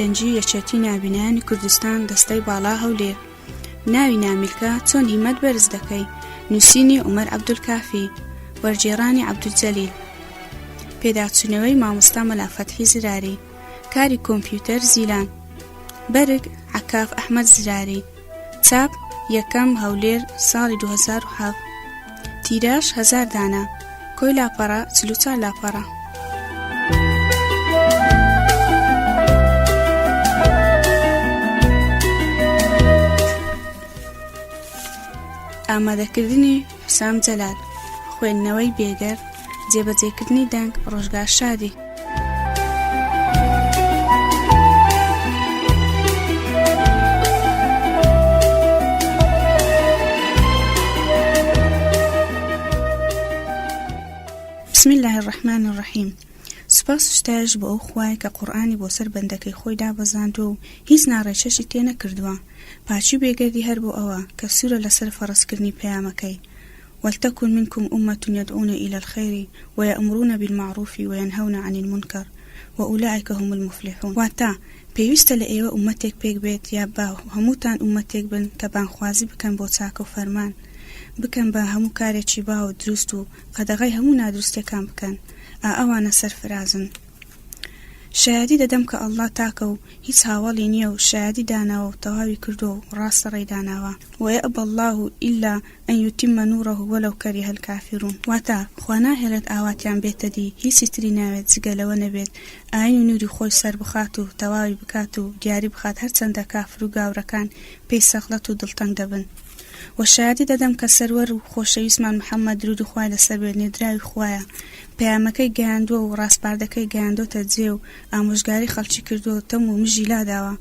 گەنجی یەکێتی نابینایانی کوردستان دەستەی باڵا هەولێر ناوی نامیلکە چۆن هیمەت بەرز دەکەی نووسینی عمر عبدولکافی وەرگێڕانی عبدولجەلیل پێداچوونەوەی مامۆستا مەلافەتحی زراری کاری کۆمپیوتەر زیلان بەرگ عکاف ئەحمد زراری چاپ، یەکەم، هەولێر، ساڵی دوو هەزار و حەڤدە. تیراژ، هەزار دانە. کۆی لاپەڕە، چل و چوار لاپەڕە. ئامادەکردنی حسام جەلال، خوێندنەوەی بێگەرد، جێبەجێکردنی دەنگ، ڕۆژگار شادی. بسم اللە الرحمن الرحیم. سوپاس و ستایش بۆ ئەو خوایە کە قورئانی بۆ سەر بەندەکەی خۆی دابەزاندووە و هیچ ناڕێچەشی تێ نەکردووە، پاکی و بێگەردی هەر بۆ ئەوە کە سوورە لەسەر فەڕزکردنی پەیامەکەی، ولتکن منکم امە یدعون الی الخیر ویامرون بالمعروف وینهون عن المنکر واولئک هم المفلحون، واتە، پێویستە لە ئێوە ئومەتێک پێک بێت یا با هەمووتان ئومەتێک بن کە بانگخوازی بکەن بۆ چاکە و فەرمان بکەن بە هەموو کارێکی باو و دروست و قەدەغەی هەموو نادروستییەکان بکەن. ئا ئەوانە سەرفرازن. شایەدی دەدەم کە اللە تاکە و هیچ هاوەڵی نیە و شایەدی داناوە و تەواوی کردووە و ڕاستە ڕێی داناوە، و یابی اللە الا ان یتم نوره ولو کره الکافرون، واتە، خوا ناهێڵێت ئاواتیان بێتە دی، هیچی تری ناوێت جگە لەوە نەبێت ئاین و نوری خۆی سەربخات و تەواوی بکات و دیاری بخات هەرچەندە کافر و گاورەکان پێی سەغڵەت و دڵتەنگ دەبن. وە شایەتی دەدەم کە سەروەر و خۆشەویستمان محمد درود و خوای لەسەر بێت نێردراوی خوایە پەیامەکەی گەیاندوە و ڕاسپاردەکەی گەیاندۆتە جێ و ئامۆژگاری خەڵکی کردوە و تەم و مژی لاداوە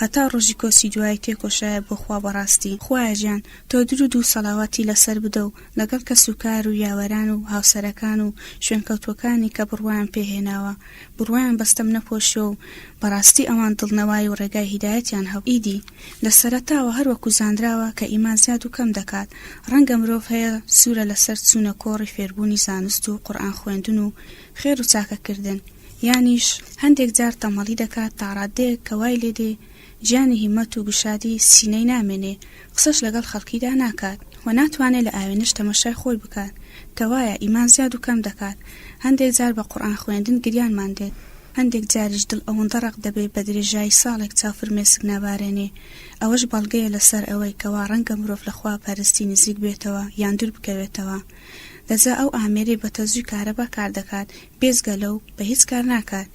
هەتا ڕۆژی کۆچی دوایی تێکۆشایە بۆ خوا بەڕاستی خوایە گیان تۆ درود و سەڵاواتی لەسەر بدە و لەگەڵ کەس و کار و یاوەران و هاوسەرەکان و شوێنکەوتوەکانی کە بڕوایان پێ هێناوە بڕوایان بە ستەم نەپۆشیوە و بەڕاستی ئەوان دڵنەوای و ڕێگای هیدایەتیان هەبوو، ئیدی لە سەرەتاوە هەر وەکو زانراوە کە ئیمان زیاد و کەم دەکات، ڕەنگە مرۆڤ هەیە سوورە لەسەر چوونە کۆڕی فێربوونی زانست و قورئان خوێندن و خێر و چاکەکردن، یانیش هەندێک جار تەمەڵی دەکات تا ڕاددەیەک کە وای لێدێ گیانی هیمەت و گشادی سینەی نامێنێ، قسەش لەگەڵ خەڵکیدا ناکات و ناتوانێ لە ئاوێنەش تەمەشای خۆی بکات، کەوایە ئیمان زیاد و کەم دەکات، هەندێک جار بە قورئان خوێندن گریانمان دێت، هەندێک جاریش دڵ ئەوەندە ڕەق دەبێ بە درێژایی ساڵێک چاو فرمێسک نابارێنێ، ئەوەش بەڵگەیە لەسەر ئەوەی کەوا ڕەنگە مرۆڤ لە خوا پەرستی نزیک بێتەوە یان دوور بکەوێتەوە، لە جا ئەو ئامێرەی بە تەزووی کارەبا کار دەکات، بێجگە لەو بە هیچ کار ناکات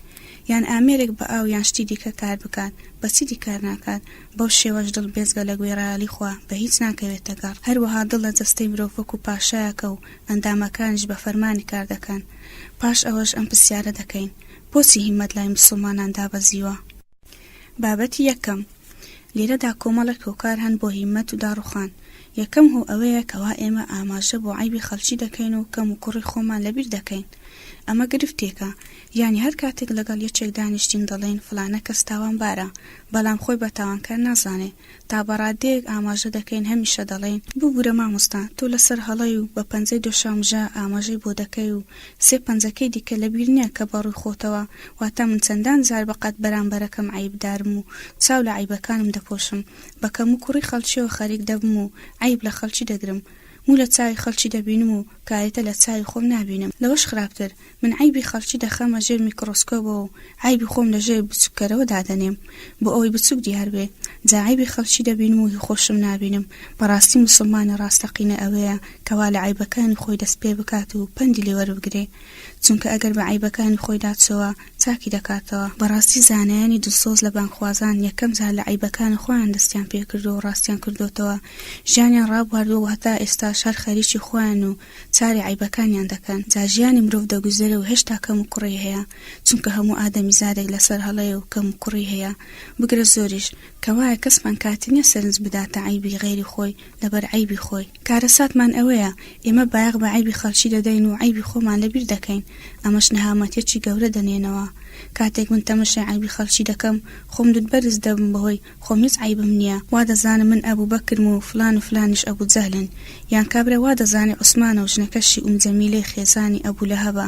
یان ئامێرێک بە ئاو یان شتی دیکە کار بکات بە چیدی کار ناکات، بەو شێوەش دڵ بێجگە لە گوێڕایەڵی خوا بە هیچ ناکەوێتە گەڕ، هەروەها دڵ لە جەستەی مرۆڤ وەکو پاشایەکە و ئەندامەکانیش بە فەرمانی کار دەکەن، پاش ئەوەش ئەم پرسیارە دەکەین، بۆچی هیممەت لای موسڵمانان دابەزیوە؟ بابەتی یەکەم، لیرەدا کۆمەڵێک هۆکار هەن بۆ هیمەت و داڕوخان، یەکەم هۆ ئەوەیە کەوا ئێمە ئاماژە بۆ عەیبی خەڵکی دەکەین و کەم و کوڕی خۆمان لەبیر دەکەین، ئەمە گرفتێکە، یانی هەر کاتێک لەگەڵ یەکێک دانیشتین دەڵێین فڵانە کەس تاوانبارە، بەڵام خۆی بە تاوانکار نازانێ، تا بەڕادەیەک ئاماژە دەکەین هەمیشە دەڵێین ببورە مامۆستا تۆ لەسەر هەڵەی و بە پەنجەی دۆشاومژە ئاماژەی بۆ دەکەی و سێ پەنجەکەی دیکە لەبیر نیە کە بەڕووی خۆتەوە واتا من چەندان جار بەقەد بەرامبەرەکەم عەیبدارم و چاو لە عەیبەکانم دەپۆشم بە کەموکوڕی خەڵکیەوە خەریک دەبم و عەیب لە خەڵکی دەگرم موو لە چاوی خەڵکی دەبینم و کارێتە لە چاوی خۆم نابینم، لەوەش خراپتر من عەیبی خەڵکی دەخەمە ژێر میکڕۆسکۆبەوە و عەیبی خۆم لە ژێر بچووککەرەوە دادەنێم بۆ ئەوەی بچووک دیار بێ، جا عەیبی خەڵکی دەبینم و هی خۆشم نابینم، بەڕاستی موسڵمانی ڕاستەقینە ئەوەیە کە وا لە عەیبەکانی خۆی دەست پێ بکات و پەندی لێ وەربگرێ، چونکە ئەگەر بە عەیبەکانی خۆی داچۆوە، چاکی دەکاتەوە. بەڕاستی زانایانی دڵسۆز لە بانگخوازان یەکەم جار لە عەیبەکانی خۆیان دەستیان پێکردووە و ڕاستیان کردۆتەوە، ژیانیان ڕابواردووە و هەتا ئێستاش هەر خەریکی خۆیان و چاری عەیبەکانیان دەکەن. جا ژیانی مرۆڤ دەگوزەرێ و هێشتا کەموکوڕی هەیە، چونکە هەموو ئادەمیزادێک لەسەر هەڵەیە و کەموکوڕی هەیە، بگرە زۆریش، کەوایە کەسمان کاتی نییە سەرنج بداتە عەیبی غەیری خۆی لەبەر عەیبی خۆی. کارەساتمان ئەوەیە ئێمە بایەخ بە عەیبی خەڵکی دەدەین و عەیبی خۆمان لەبیر دەکەین، ئەمەش نەهامەتیەکی گەورە دەنێنەوە. کاتێک من تەمەشای عەیبی خەڵکی دەکەم، خۆم دوت بەرز دەبم بەهۆی خۆم هیچ عەیبم نیە، وا دەزانم من ئەبو بەکرم و فلان و فلانیش ئەبو جەهلن، یان کابرا وا دەزانێ عوسمانە و ژنەکەشی ئوم جەمیلەی خێزانی ئەبو لەهەبە،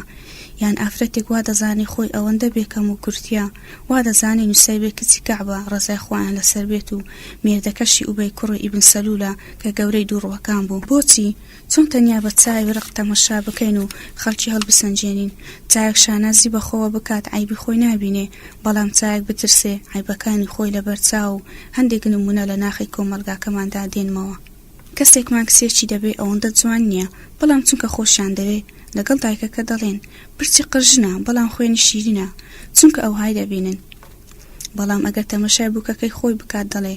یان ئافرەتێک وا دەزانێ خۆی ئەوەندە بێ کەم و کورتیە، وا دەزانێ نوسەیبە کچی کەعبە ڕەزای خوایان لەسەر بێت و مێردەکەشی ئوبەی کوڕی ئیبن سەلولە، کە گەورەی دوو ڕووەکان بوو. بۆچی؟ چۆن تەنیا بە چاوی ڕق تەمەشا بکەین و خەڵکی هەڵبسەنگێنین؟ چاوێک شانازی بە خۆوە بکات عەیبی خۆی نابینێ، بەڵام چاوێک بترسێ عەیبەکانی خۆی لەبەر چاو و هەندێک نموونە لە ناخی کۆمەڵگاکەماندا دێنمەوە. کەسێکمان کچێکی دەبێ ئەوەندە جوان نییە، بەڵام چونکە خۆشیان دەوێ، لەگەڵ دایکەکە دەڵێن، پرچی قرژنە، بەڵام خوێنی شیرینە، چونکە ئەوهای دەبینن. بەڵام ئەگەر تەمەشای بووکەکەی خۆی بکات دەڵێ،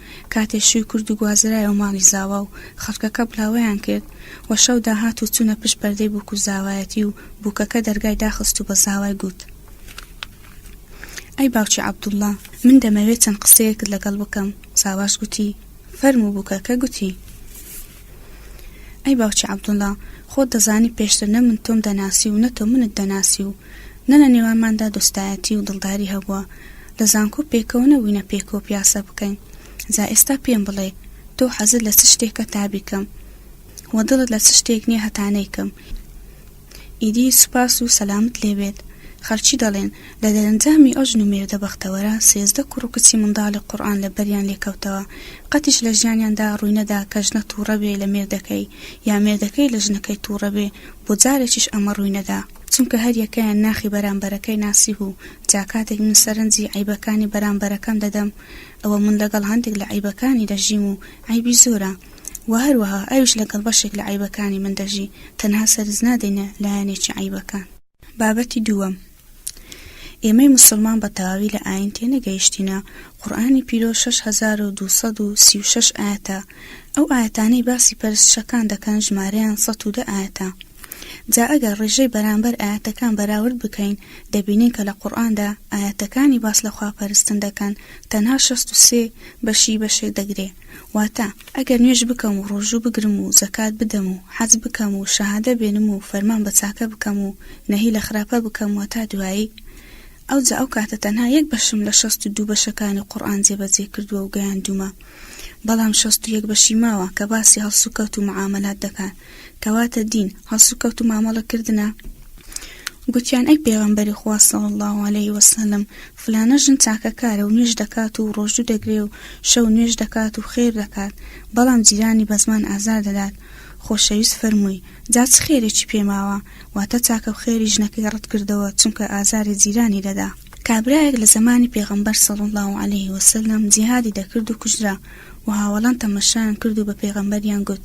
کاتێ شووی کرد و گوازرایەوە ماڵی زاوا و خەڵکەکە بڵاوەیان کرد و شەو داهات و چوونە پشت پەردەی بووک و زاوایەتی و بووکەکە دەرگای داخست و بە زاوای گوت، ئەی باوکی عەبدوڵڵا، من دەمەوێ چەند قسەیەکت لەگەڵ بکەم، زاواش گوتی، فەرموو، بووکەکە گوتی، ئەی باوکی عەبدوڵڵا، خۆت دەزانی پێشتر نە من تۆم دەناسی و نە تۆ منت دەناسی و، نە لە نێوانماندا دۆستایەتی و دڵداری هەبووە، لە زانکۆ پێکەوە نەبووینە پێکەوە پیاسە بکەین، جا ئێستا پێم بڵێ تۆ حەزت لە چ شتێکە تا بیکەم و دڵت لە چ شتێک نییە هەتا نەیکەم؟ ئیدی سوپاس و سەلامت لێ بێت. خەڵکی دەڵێن، لە دەرەنجامی ئەو ژن و مێردە بەختەوەرە، سێزدە کوڕ و کچی منداڵی قورئان لە بەریان لێ کەوتەوە، قەتیش لە ژیانیاندا ڕووی نەدا کە ژنە تووڕە بێ لە مێردەکەی، یا مێردەکەی لە ژنەکەی تووڕە بێ، بۆ جارێکیش ئەمە ڕووی نەدا. چونکە هەر یەکەیان ناخی بەرامبەرەکەی ناسیوه و جا کاتێک من سەرنجی عەیبەکانی بەرامبەرەکەم دەدەم ئەوە من لەگەڵ هەندێک لە عەیبەکانی دەژیم و عەیبی زۆرە وە هەروەها ئەویش لەگەڵ بەشێک لە عەیبەکانی من دەژی تەنها سەرنج نادەینە لایەنێکی عەیبەکان. بابەتی دووەم، ئێمەی موسڵمان بە تەواوی لە ئاین تێنەگەیشتینە، قورئانی پیرۆز شەش هەزار و دوو سەد و سی و شەش ئایەتە ئەو ئایەتانەی باسی پەرستشەکان دەکەن ژمارەیان سەد و دە ئایەتە، جا ئەگەر ڕیژەی بەرامبەر ئایەتەکان بەراورد بکەین دەبینین کە لە قورئاندا ئایەتەکانی باس لە خوا پەرستن دەکەن تەنها شەست و سێ بەشی بەشێک دەگرێ واتە ئەگەر نوێژ بکەم و ڕۆژوو بگرم و زەکات بدەم و حەج بکەم و شەهادە بێنم و فەرمان بە چاکە بکەم و نەهی لە خراپە بکەم و تا دوایی ئەوجا ئەو کاتە تەنها یەک بەشم لە شەست و دوو بەشەکانی قورئان جێبەجێ کردووە و گەیاندوومە بەڵام شەست و یەک بەشی ماوە کە باسی هەڵسوکەوت و معامەلات دەکات کەواتە دین هەڵسوکەوت و مامەڵە کردنە گوتیان ئەی پێغەمبەری خوا صلی الله علیه وسلم فلانە ژن چاکەکارە و نوێژ دەکات و ڕۆژوو دەگرێ و شەو نوێژ دەکات و خێر دەکات بەڵام جیرانی بە زمان ئازار دەدات خۆشەویست فەرمووی جا چ خێرێکی پێماوە واتە چاکە و خێری ژنەکەی ڕەت کردەوە چونکە ئازاری جیرانی دەدا کابرایەک لە زمانی پێغەمبەر صلی الله علیه وسلم جیهادی دەکرد و کوژرا و هاوەڵان تەمەشایان کرد و بە پێغەمبەریان گوت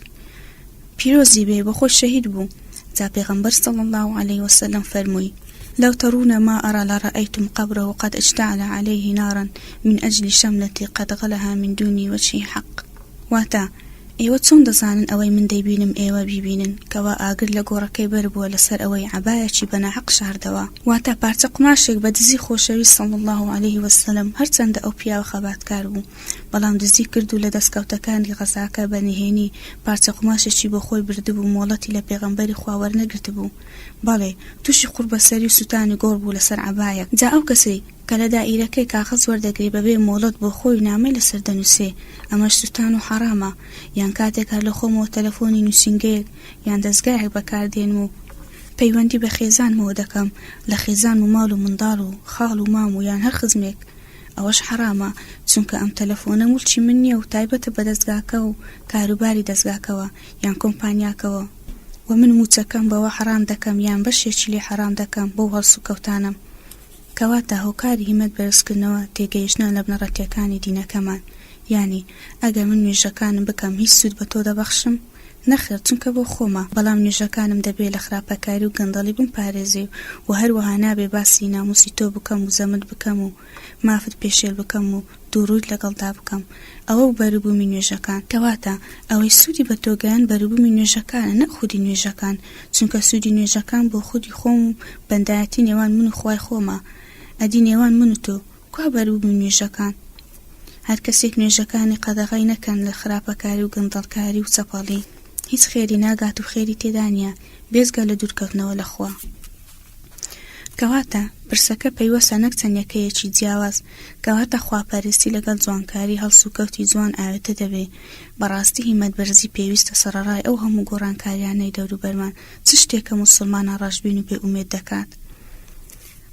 پیرۆزی بێ بە خۆی شەهید بوو جا پێغەمبەر صلی الله علیه وسلم فەرمووی لو ترون ما أرى لرأيتم قبره قد اشتعل عليه نارا من أجل شملتي قد غلها من دون وجه حق واتا ئێوە چۆن دەزانن ئەوەی من دەیبینم ئێوە بیبینن کەوا ئاگر لە گۆڕەکەی بەربووە لەسەر ئەوەی عەبایەکی بەناحەق شاردەوە واتا پارچە قوماشێک بە دزی خۆشەویست صلی الله علیه وسلم هەرچەندە ئەو پیاوە خەباتکار بوو بەڵام دزی کرد و لە دەستکەوتەکانی غەزاکە بە نهێنی پارچە قوماشێکی بۆ خۆی بردبوو، مۆڵەتی لە پێغەمبەری خوا وەرنەگرتبوو، بەڵێ، تووشی قوڕبەسەری و سووتانی گۆڕ بوو لەسەر عەبایەک، جا ئەو کەسەی کە لە دائیرەکەی کاغەز وەردەگرێ بەبێ مۆڵەت بۆ خۆی نامەی لەسەر دەنووسێ، ئەمەش سووتان و حەڕامە، یان کاتێک هەر لە خۆمەوە تەلەفۆنی نووسینگەیەک یان دەزگایەک بەکار دێنم و، پەیوەندی بە خێزانمەوە دەکەم، لە خێزانم و ماڵ و منداڵ و خاڵ و مام و یان هەر خزمێک، ئەوەش حەرامە چونکە ئەم تەلەفۆنە مولکی من نیە و تایبەتە بە دەزگاکە و کاروباری دەزگاکەوە یان کۆمپانیاکەوە و من موچەکەم بەوە حەرام دەکەم یان بەشێکی لێ حەرام دەکەم بەو هەڵسوکەوتانەم کەواتە هۆکاری هیمەت بەرزکردنەوە تێگەیشتنە لە بنەڕەتیەکانی دینەکەمان یانی ئەگەر من نوێژەکانم بکەم هیچ سود بە تۆ دەبەخشم؟ نەخێر چونکە بۆ خۆمە، بەڵام نوێژەکانم دەبێ لە خراپەکاری و گەندەڵی بمپارێزێ و هەروەها نابێ باسی ناموسی تۆ بکەم و زەمت بکەم و مافت پێشێل بکەم و دووڕوویت لەگەڵدا بکەم. ئەوە بوو بەروبوومی نوێژەکان. کەواتە ئەوەی سوودی بە تۆ گەیاند بەروبوومی نوێژەکانە نەک خودی نوێژەکان، چونکە سوودی نوێژەکان بۆ خودی خۆم و بەندایەتی نێوان من و خوای خۆمە، ئەدی نێوان من و تۆ، کوا بەروو بوو نوێژەکان؟ هەرکەسێک نوێژەکانی قەدەغەی نەکەن لە خراپەکاری و گەندەڵکاری و چەپەڵی هیچ خێری ناگات و خێری تێدا نیە بێجگە لە دوورکەوتنەوە لە خوا. کەواتە پرسەکە پەیوەسە نەک چەند یەکەیەکی جیاواز کەواتە خواپەرستی لەگەڵ جوانکاری هەڵسوکەوتی جوان ئاوێتە دەبێ بەڕاستی هیمەت بەرزی پێویستە سەڕەڕای ئەو هەموو گۆڕانکاریانەی دەوروبەرمان چ شتێکە موسڵمانە ڕەشبین و بێ ئومێد دەکات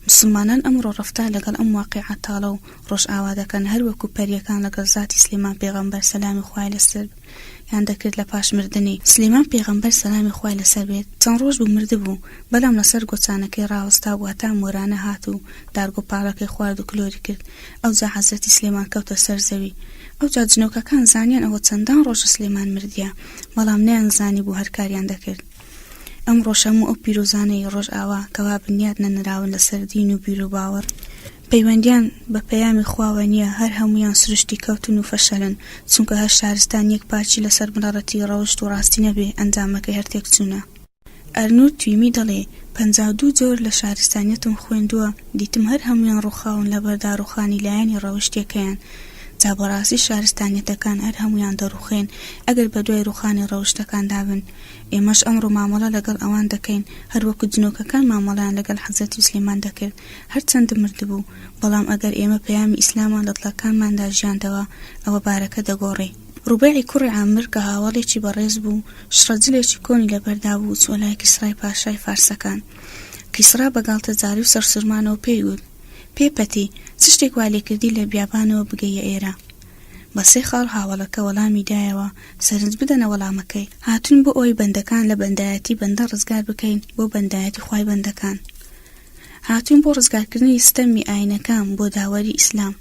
موسڵمانان ئەمڕۆ ڕەفتار لەگەڵ ئەم واقیعە تاڵە و ڕۆژئاوا دەکەن هەر وەکو پەریەکان لەگەڵ زاتی سلێمان پێغەمبەر سەلامی خوای لەسەر بێت یان دەکرد لە پاش مردنی سلێمان پێغەمبەر سەلامی خوای لەسەر بێت چەند ڕۆژ بوو مردبوو بەلام لەسەر گۆچانەکەی ڕاوەستا بوو هەتا مۆرانە هات و دارگۆ پاڵەکەی خوارد و کلۆری کرد ئەوجا حەزرەتی سلێمان کەوتە سەر زەوی ئەوجا جنۆکەکان زانیان ئەوە چەندان ڕۆژە سلێمان مردیە بەڵام نەیان زانی بوو هەر کاریان دەکرد ئەم ڕۆژهەم و ئەو پیرۆزانەی ڕۆژئاوا کەوا بنیات نەنراون لەسەر دین و بیر و باوەڕ پەیوەندیان بە پەیامی خواوە نییە هەر هەموویان سروشتی کەوتن و فەشەلن چونکە هەر شارستان یەک پارچی لەسەر بنەڕەتی ڕەوشت و ڕاستی نەبێ ئەنجامەکەی هەر تێکچوونە. ئەرنوت تویمی دەڵێ، پەنجا و دوو جۆر لە شارستانیەتم خوێندووە دیتم هەر هەموویان ڕووخاون لەبەر داڕووخانی لایەنی ڕەوشتیەکەیان جا بەڕاستی شارستانیەتەکان هەر هەموویان دەڕووخێن ئەگەر بەدوای ڕووخانی ڕەوشتەکاندا بن ئێمەش ئەمڕۆ مامەڵە لەگەڵ ئەوان دەکەین هەر وەکو جنۆکەکان مامەڵەیان لەگەڵ حەزرەتی سلێمان دەکرد هەر چەند مردبوو، بەڵام ئەگەر ئێمە پەیامی ئیسلامان لە دڵەکانماندا ژیاندەوە ئەوە بارەکە دەگۆڕی. روبەیعی کوڕی عامر کە هاوەڵێکی بەڕێز بوو، شڕە جلێکی کۆنی لەبەردا بوو، چووە لای کیسڕای پاشای فارسەکان. کیسڕا بە گاڵتەجاڕی و سەرسورمانەوە پێی وت، پێ پەتی، چ شتێک وا لێکردی لە بیابانەوە بگەییە ئێرە؟ بە سێ خاڵ هاوەڵەکە وەڵامی دایەوە، سەرنج بدەنە وەڵامەکەی. هاتووین بۆ ئەوەی بەندەکان لە بەندایەتی بەندە ڕزگار بکەین بۆ بەندایەتی خوای بەندەکان. هاتووین بۆ ڕزگارکردنی ستەمی ئاینەکان بۆ داوەری ئیسلام.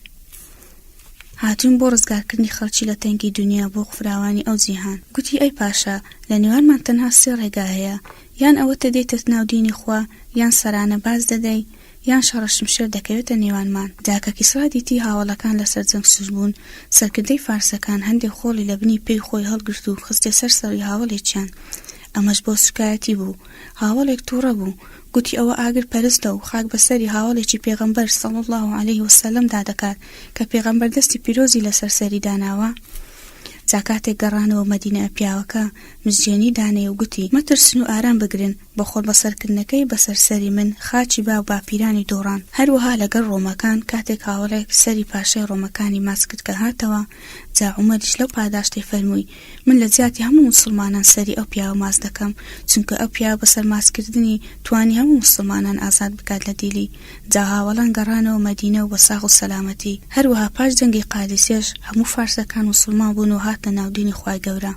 هاتووین بۆ ڕزگارکردنی خەڵکی لە تەنگی دونیا بۆ فراوانی ئەو جیهان. گوتی، ئەی پاشا، لە نێوانمان تەنها سێ ڕێگا هەیە، یان ئەوەتە دێیتە ناو دینی خوا، یان سەرانە باز دەدەی، یان شەڕە شمشێر دەکەوێتە نێوانمان دا کە کیسڕا دیتی هاوەڵەکان لەسەر جەنگ سوز بوون سەرکردەی فارسەکان هەندێ خۆڵی لە بنی پێی خۆی هەڵگرت و خستیە سەر سەڕی هاوەڵێکیان ئەمەش بۆ سوکایەتی بوو هاوەڵێک توڕە بوو گوتی ئەوە ئاگر پەرستە و خاک بە سەری هاوەڵێکی پێغەمبەر صلی اللە علیە وسلم دا دەکات کە پێغەمبەر دەستی پیرۆزی لەسەر سەری داناوە جا کاتێک گەڕانەوە مەدینە پیاوەکە مزگێنی دانێ و گوتی، مەترسن و ئارام بگرن، بە خۆڵبەسەرکردنەکەی بەسەر سەری من، خاچی با و باپیرانی دۆڕاند. هەروەها لەگەڵ ڕۆمەکان، کاتێک هاوەڵێک سەری پاشای ڕۆمەکانی ماچ کرد کە هاتەوە، جا عومەریش لەو پاداشتەی فەرمووی، من لە جیاتی هەموو موسڵمانان سەری ئەو پیاوە ماچ دەکەم، چونکە ئەو پیاوە بەسەر ماچکردنی، توانی هەموو موسڵمانان ئازاد بکات لە دیلی. جا هاوەڵان گەڕانەوە مەدینە و بە ساغ و سەلامەتی. هەروەها پاش جەنگی قادیسیەش، هەموو فارسەکان موسڵمان بوون و هاتنە ناو دینی خوای گەورە.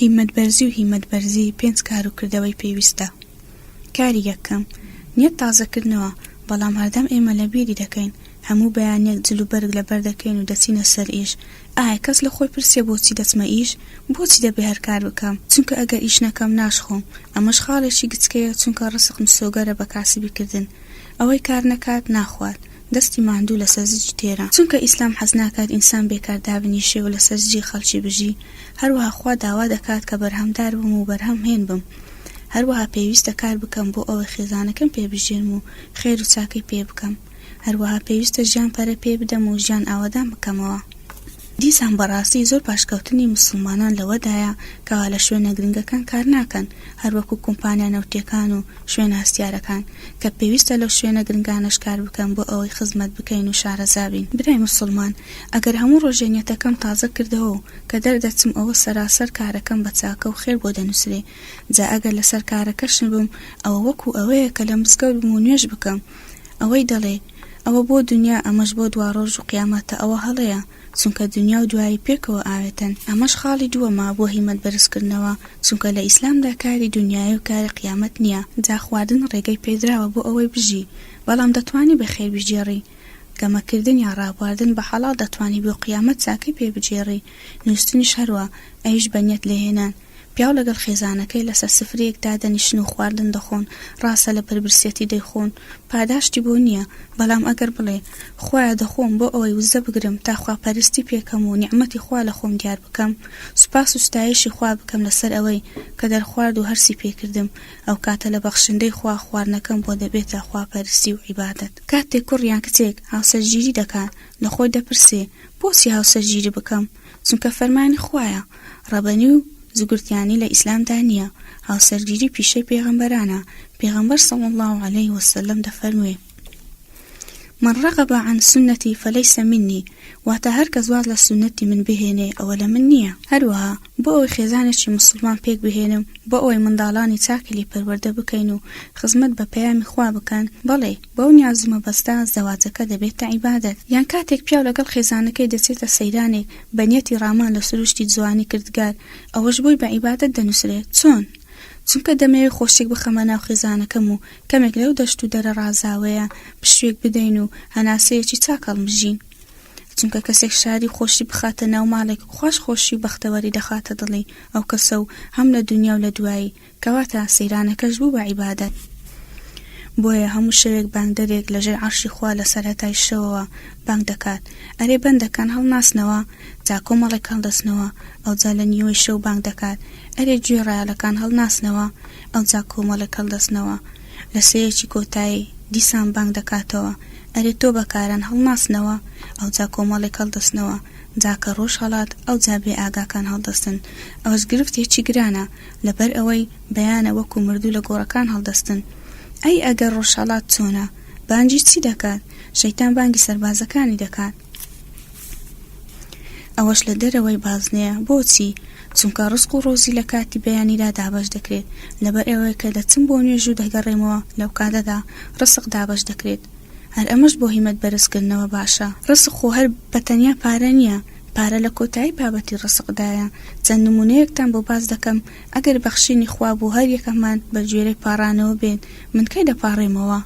هیمەتبەرزی و هیمەت بەرزی پێنج کار و کردەوەی پێویستە. کاری یەکەم، نیەت تازە کردنەوە، بەڵام هەردەم ئێمە لە بیری دەکەین، هەموو بەیانیەک جل و بەرگ لەبەر دەکەین و دەچینە سەر ئیش، ئایا کەس لە خۆی پرسیە بۆچی دەچمە ئیش؟ بۆچی دەبێ هەر کار بکەم؟ چونکە ئەگەر ئیش نەکەم ناشخۆم، ئەمەش خاڵێکی گچکەیە چونکە ڕزق مسۆگەرە بە کاسبی کردن، ئەوەی کار نەکات ناخوات، دەستی ماندوو لەسەر زج تێرە چونکە ئیسلام حەز ناکات ئینسان بێکار دابنیشێ و لەسەر زجی خەڵکی بژی هەروەها خوا داوا دەکات کە بەرهەمدار بم و بەرهەم هێن بم هەروەها پێویستە کار بکەم بۆ ئەوەی خێزانەکەم پێ بژێنم و خێر و چاکەی پێ بکەم هەروەها پێویستە ژیان پەرە پێ بدەم و ژیان ئاوەدان بکەمەوە. دیسان بەڕاستی زۆر پاشکەوتنی موسڵمانان لەوەدایە کەوا لە شوێنە گرنگەکان کار ناکەن هەر وەکو کۆمپانیا نەوتیەکان و شوێنە هەستیارەکان کە پێویستە لەو شوێنە گرنگانەش کار بکەن بۆ ئەوەی خزمەت بکەین و شارەزا بین. برای موسڵمان ئەگەر هەموو ڕۆژێ نێتەکەم تازە کردەوە و کە دەردەچم ئەوە سەراسەر کارەکەم بە چاکە و خێر بۆ دەنووسرێ جا ئەگەر لەسەر کارەکەش نبم ئەوە وەکو ئەوەیە کە لە مزگەوت بم و نوێژ بکەم ئەوەی دەڵێی ئەوە بۆ دونیا ئەمەش بۆ دواڕۆژ و قیامەتە ئەوە هەڵەیە چونکە دونیا و دوایی پێکەوە ئاوێتەن ئەمەش خاڵی دووەمە بۆ هیمەت بەرز کردنەوە چونکە لە ئیسلامدا کاری دونیای و کاری قیامەت نیە جا خواردن ڕێگەی پێدراوە بۆ ئەوەی بژی بەڵام دەتوانی بە خێر بگێڕی گەمە کردن یا ڕابواردن بە حەڵاڵ دەتوانی بۆ قیامەت چاکەی پێ بگێڕی نووستنیش هەروا، ئەویش بە نیەت لێهێنان. پیاو لەگەڵ خێزانەکەی لەسەر سفرەیەک دادەنیشن و خواردن دەخۆن، ڕاستە لە بەربرسیەتی دەیخۆن، پاداشتی بۆ نییە، بەڵام ئەگەر بڵێ، خوایە دەخۆم بۆ ئەوەی وزە بگرم تا خواپەرستی پێکەم و نیعمەتی خوا لە خۆم دیار بکەم، سوپاس و ستایشی خوا بکەم لەسەر ئەوەی کە دەرخوارد و هەرسی پێکردم، ئەو کاتە لە بەخشندەی خوا خواردنەکەم بۆ دەبێتە خواپەرستی و عیبادەت. کاتێک کوڕ یان کچێک هاوسەرگیری دەکات، لە خۆی دەپرسێ بۆچی هاوسەرگیری بکەم؟ چونکە فەرمانی خوایە، ڕەبەنی و زگرتیانی لە ئیسلامدا نییە، هاوسەرگیری پیشەی پێغەمبەرانە، پێغەمبەر صلی اللە علیە وسلم دەفەرموێ، من رغب عن سنتی فلیس منی، واتە هەر کەس واز لە سوننەتی من بهێنێ ئەوە لە من نییە. هەروەها بۆ ئەوەی خێزانێکی موسڵمان پێک بهێنم، بۆ ئەوەی منداڵانی چاکی لێ پەروەردە بکەین و خزمەت بە پەیامی خوا بکەن، بەڵێ، بەو نیاز و مەبەستە زەواجەکە دەبێتە عیبادەت، یان کاتێک پیاو لەگەڵ خێزانەکەی دەچێتە سەیرانێک بە نیەتی ڕامان لە سروشتی جوانی کردگار، ئەوەش بۆی بە عیبادەت دەنووسرێت، چۆن؟ چونکە دەمەوێت خۆشییەک بخەمە ناو خێزانەکەم و کەمێک لەو دەشت و دەرە ڕازاوەیە پشووێک بدەین و هەناسەیەکی چاک هەڵمژین، چونکە کەسێک شادی و خۆشی بخاتە ناو ماڵێک، خواش خۆشی و بەختەوەری دەخاتە دڵی ئەو کەسە و هەم لە دونیا و لە دوایی کەواتە سەیرانەکەش بوو بە عیبادەت. بۆیە هەموو شەوێک بانگدەرێک لە ژێر عەرشی خوا لە سەرەتای شەوەوە بانگ دەکات، ئەرێ بەندەکان هەڵناسنەوە؟ جا کۆمەڵێک هەڵدەستنەوە، ئەوجا لە نیوەی شەو بانگ دەکات، ئەرێ گوێی ڕایەڵەکان هەڵناسنەوە؟ ئەوجا کۆمەڵێک هەڵدەستنەوە، لە سێیەکی کۆتایی، دیسان بانگ دەکاتەوە، ئەرێ تۆبەکاران هەڵناسنەوە؟ ئەوجا کۆمەڵێک هەڵدەستنەوە، جا کە ڕۆژ هەڵات، ئەوجا بێئاگاکان هەڵدەستن. ئەوەش گرفتێکی گرانە، لەبەر ئەوەی بەیانە وەکو مردوو لە گۆڕەکان هەڵدەستن ئەی ئەگەر ڕۆژهەڵات چۆنە بانگی چی دەکات شەیتان بانگی سەربازەکانی دەکات ئەوەش لە دەرەوەی بازنەیە بۆچی چونکە ڕسق و ڕۆزی لە کاتی بەیانیدا دابەش دەکرێت لەبەر ئەوەیە کە دەچم بۆ نوێژ و دەگەڕێمەوە لەو کاتەدا ڕسق دابەش دەکرێت هەر ئەمەش بۆ هیمەت بەرزکردنەوە باشە ڕسق خۆ هەر بە تەنیا پارە نییە پارە لە کۆتایی بابەتی ڕزق دایە، چەند نموونەیەکتان بۆ باس دەکەم، ئەگەر بەخشینی خوا بوو هەر یەکەمان بە گوێرەی پاڕانەوە بێت، من کەی دەپاڕێمەوە؟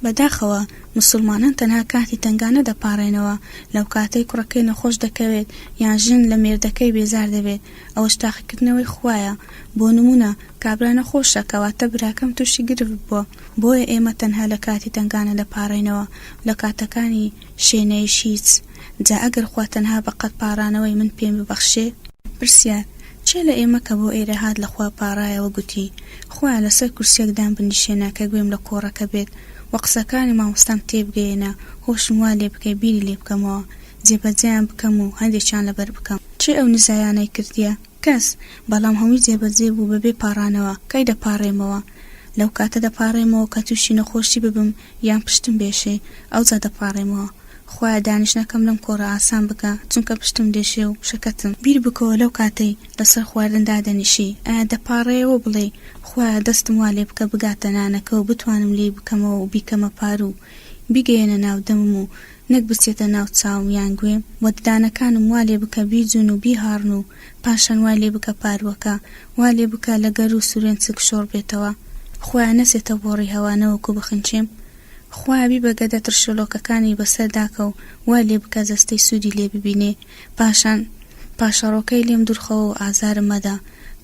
بەداخەوە موسوڵمانان تەنها کاتی تەنگانە دەپاڕێنەوە، لەو کاتەی کوڕەکەی نەخۆش دەکەوێت یان ژن لە مێردەکەی بێزار دەبێت، ئەوەش تاقیکردنەوەی خوایە، بۆ نموونە کابرا نەخۆشە کەواتە براکەم تووشی گرفت بووە، بۆیە ئێمە تەنها لە کاتی تەنگانە دەپاڕێنەوە، لە کاتەکانی. شێنەیش هیچ، جا ئەگەر خوا تەنها بە قەد پاڕانەوەی من پێم ببەخشێ. پرسیار، کێ لە ئێمە کە بۆ ئێرە هات لە خوا پاڕایەوە گوتی، خوایە لە سەر کورسیەک دام بنیشێنە کە گوێم لە کۆڕەکە بێت و قسەکانی مامۆستام تێ بگەیەنە هۆشم وا لێ بکەی بیری لێ بکەمەوە، جێ بەجێیان بکەم و هەندێکیان لە بەر بکەم. کێ ئەو نزایانەی کردیە؟ کەس، بەڵام هەمووی جێبەجێ بوو بەبێ پاڕانەوە، کەی دەپاڕێمەوە؟ لەو کاتە دەپاڕێمەوە کە تووشی نەخۆشی ببم یان پشتم بێشێ، ئەوجا دەپاڕێمەوە. خوایە دانیشتنەکەم لەم کۆڕە ئاسان بکە، چونکە پشتم دێشێ و شەکەتم. بیر بکەوە لەو کاتەی لەسەر خواردن دادەنیشی، ئایا دەپاڕێیەوە و بڵێی، خوایە دەستم وا لێ بکە بگاتە نانەکە و بتوانم لێی بکەمەوە و بیکەمە پاروو، بیگەیەنە ناو دەمم و نەک بچێتە ناو چاوم یان گوێم و ددانەکانم وا لێ بکە بیجوون و بیهاڕن و پاشان وای لێ بکە پارووەکە وا لێ بکە لە گەروو سورێن چک شۆڕ بێتەوە خوایە نەچێتە بۆڕی هەوا نەوەکو بخنچێم خوایە بیبە گەدە ترشۆلۆکەکانی بە سەر داکە و وای لێ بکە جەستەی سوودی لێ ببینێ پاشان پاشەڕۆکەی لێم دوورخەوە و ئازارم مەدە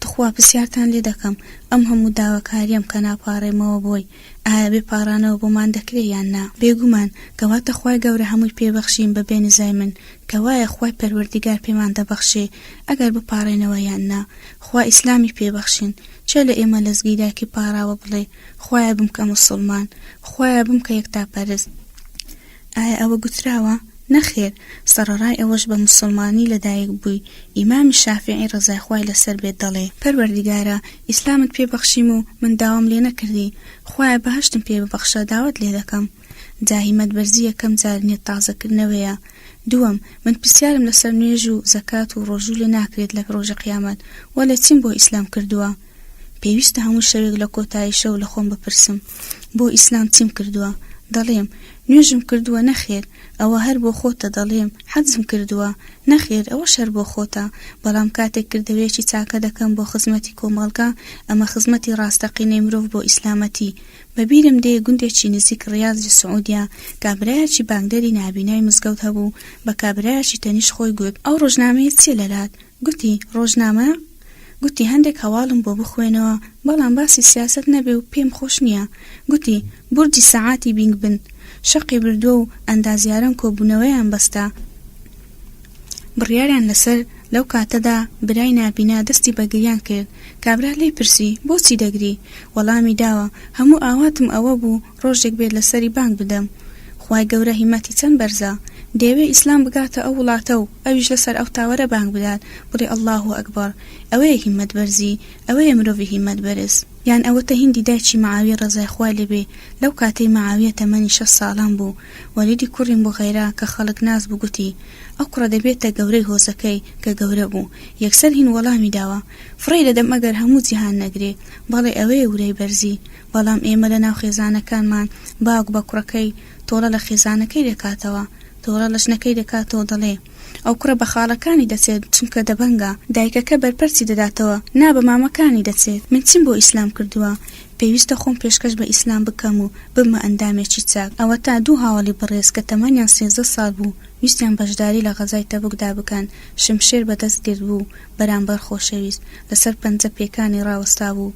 توخوا پرسیارتان لێ دەکەم ئەم هەموو داواکاریەم کە ناپاڕێمەوە بۆی ئایا بێ پاڕانەوە بۆمان دەکرێ یان نا؟ بێگومان، کەواتە خوای گەورە هەمووی پێ بەخشیم بە بێ نزای من، کەوایە خوای پەروەردیگار پێمان دەبەخشێ ئەگەر بپاڕێنەوە یان نا، خوا ئیسلامی پێ بەخشین، چێ لە ئێمە لەزگی دایکی پاڕاوە بڵێ، خوایە بمکە موسوڵمان، خوایە بمکە یەکتاپەرست، ئایا ئەوە گوتراوە؟ نەخێر، سەڕەڕای ئەوەش بە موسڵمانی لە دایک بووی، ئیمامی شافیعی ڕەزای خوای لەسەر بێت دەڵێ. پەروەردگارا ئیسلامت پێ بەخشیم و من داوام لێ نەکردی، خوایە بەهەشتم پێ ببەخشە داوات لێ دەکەم. جا هیمەت بەرزی یەکەم جار نیەت تازە کردنەوەیە. دووەم، من پرسیارم لەسەر نوێژ و زەکات و ڕۆژوو لێ ناکرێت لە ڕۆژی قیامەت، وەلێ چیم بۆ ئیسلام کردووە؟ پێویستە هەموو شەوێک لە کۆتایی شەو لە خۆم بپرسم بۆ ئیسلام چیم کردووە؟ دەڵێم، نوێژم کردووە نەخێر، ئەوە هەر بۆ خۆتە دەڵێم، حەجم کردووە؟ نەخێر، ئەوەش هەر بۆ خۆتە، بەڵام کاتێک کردەوەیەکی چاکە دەکەم بۆ خزمەتی کۆمەڵگە، ئەمە خزمەتی ڕاستەقینەی مرۆڤ بۆ ئیسلامەتی. بەبیرم دێ گوندێکی نزیک ڕیازی سعودیە کابرایەکی بانگدەری نابینای مزگەوت هەبوو، بە کابرایەکی تەنیشت خۆی گوت، ئەو ڕۆژنامەیە چییە لەلات؟ گوتی، ڕۆژنامە؟ گوتی هەندێک هەواڵم بۆ بخوێنەوە بەڵام باسی سیاسەت نەبێ و پێم خۆش نییە. گوتی بورجی سەعاتی بینگ بن شەقی بردووە و ئەندازیاران کۆبوونەوەیان بەستە بڕیاریان لەسەر لەو کاتەدا برای نابینا دەستی بە گریان کرد کابرا لێی پرسی بۆچی دەگری؟ وەڵامی داوە هەموو ئاواتم ئەوە بوو ڕۆژێک بێت لەسەری بانگ بدەم. خوای گەورە هیمەتی چەند بەرزە دەیەوێ ئیسلام بگاتە ئەو وڵاتە و ئەویش لەسەر ئەو تاوەرە بانگ بدات بڵێ اللە اکبر ئەوەیە هیمەت بەرزی ئەوەیە مرۆڤی هیمەت بەرز یان ئەوەتە هیندی دایکی معاویە ڕەزای خوای لێ بێ لەو کاتەی معاویە تەمەنی شەست ساڵان بوو وەلیدی کوڕی موغیرە کە خەڵک ناس بوو گوتی ئەو کوڕە دەبێتە گەورەی هۆزەکەی کە گەورە بوو یەکسەر هیند وەڵامی داوە فڕێی دەدەم ئەگەر هەموو جیهان نەگرێ بەڵێ ئەوەیە ورەی بەرزی بەڵام ئێمە لە ناو خێزانەکانمان باوک بە کوڕەکەی تۆڵە لە خێزانەکەی دەکاتەوە، تۆڵە لە ژنەکەی دەکاتەوە دەڵێ، ئەو کوڕە بە خاڵەکانی دەچێت چونکە دەبەنگە، دایکەکە بەرپەرچی دەداتەوە نا بە مامەکانی دەچێت، من چیم بۆ ئیسلام کردووە، پێویستە خۆم پێشکەش بە ئیسلام بکەم و ببمە ئەندامێکی چاک، ئەوەتا دوو هاوەڵی بەڕێز کە تەمەنیان سێزدە ساڵ بوو ویستیان بەشداری لە غەزای تەبوکدا بکەن شمشێر بەدەست گرتبوو بەرامبەر خۆشەویست لەسەر پەنجە پێکانی ڕاوەستابوو،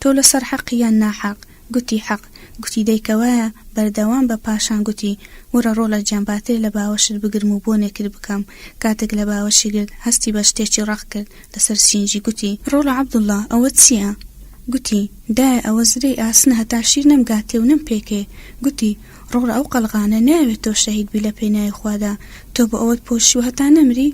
تۆ لەسەر حەقی یان ناحەق؟ گوتی حەق. گوتی دەی کەوایە بەردەوام بە پاشان گوتی وەرە ڕۆڵە گیان با تێر لە باوەشت بگرم و بۆنێکت بکەم کاتێک لە باوەشی گرت هەستی بە شتێکی ڕەق کرد لەسەر سینگی گوتی ڕۆڵە عەبدوڵا ئەوە چییە؟ گوتی دایە ئەوە زرێی ئاسنە هەتا شیر نەمگاتێ و نەمپێکێ گوتی ڕۆڵە ئەو قەڵغانە نایەوێت تۆ شەهید بی لە پێناوی خوادا تۆ بۆ ئەوەت پۆشیوە هەتا نەمری